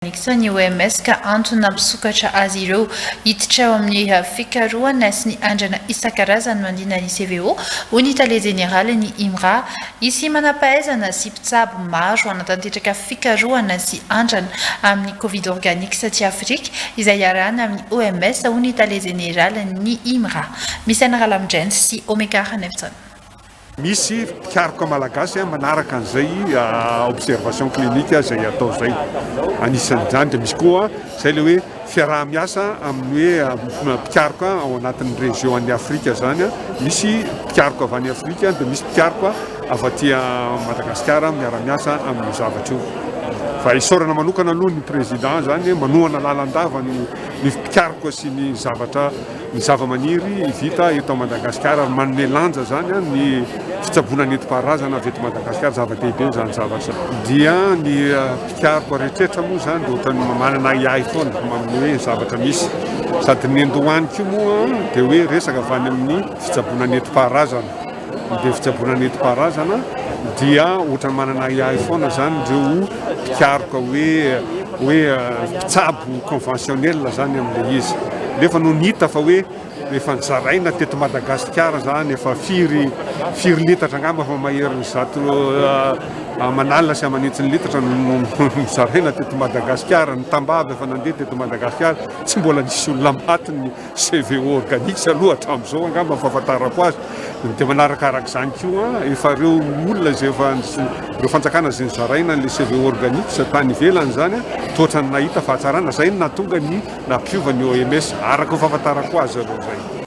Nanekitsa ny OMS ka antony nampisokatra azy ireo hiditra ao amin'ny fikarohana sy ny andrana isan-karazany manodidina ny CVO, hoy ny tale jeneralin'ny IMRA. Hisy manam-pahaizana sy mpitsabo maro hanatanteraka fikarohana sy andrana amin'ny Covid Organics aty Afrika, izay iarahana amin'ny OMS, hoy ny tale jeneralin'ny IMRA, Misaina Ralamidrainy sy Omekar Nefton. Misy mpikaroka malagasy manaraka an'izay observation clinique izay atao izay. Anisan'izany dia misy koa izay ilay hoe fiaraha-miasa amin'ny hoe mpikaroka ao anatin'ny région an'i Afrika izany. Misy mpikaroka avy any Afrika dia misy mpikaroka avy aty Madagasikara miara-miasa amin'io zavatra io. Fa isaorana manokana aloha ny président izany manohana lalandava ny mpikaroka sy ny zavatra ny zavamaniry vita eto Madagasikara ary manome lanja izany ny fitsaboana nentim-paharazana avy eto Madagasikara, zava-dehibe izany zavatra dia ny mpikaroka rehetra moa izany dia ohatran'ny manana ahiahy foana amin'ny hoe zavatra misy sady ny andohany koa moa dia hoe resaka avy any amin'ny fitsaboana nentim-paharazana. Be fitsaboana nentim-paharazana dia ohatran'ny manana ahiahy foana zany ireo mpikaroka hoe hoe mpitsabo conventionnel zany amin'ilay izy. Nefa no nita fa hoe efa nizaraina teto Madagasikara zany efa firy firy litatra angamba fa maherin'ny zato euh, aman'alina sy aman'hetsiny litatra nizaraina teto Madagasikara ny tambavy efa nandeha teto Madagasikara tsy mbola nisy olona maty CVO organics aloha hatramin'izao angamba ny fahafantarako azy, dia manarakaraka izany koa efa ireo olona izay efa ireo fanjakana izay nizaraina an'ilay CVO organics tany ivelany izany dia ohatran'ny nahita fahatsarana, izay no nahatonga ny nampiova ny OMS araka ny fahafantarako azy aloha izay.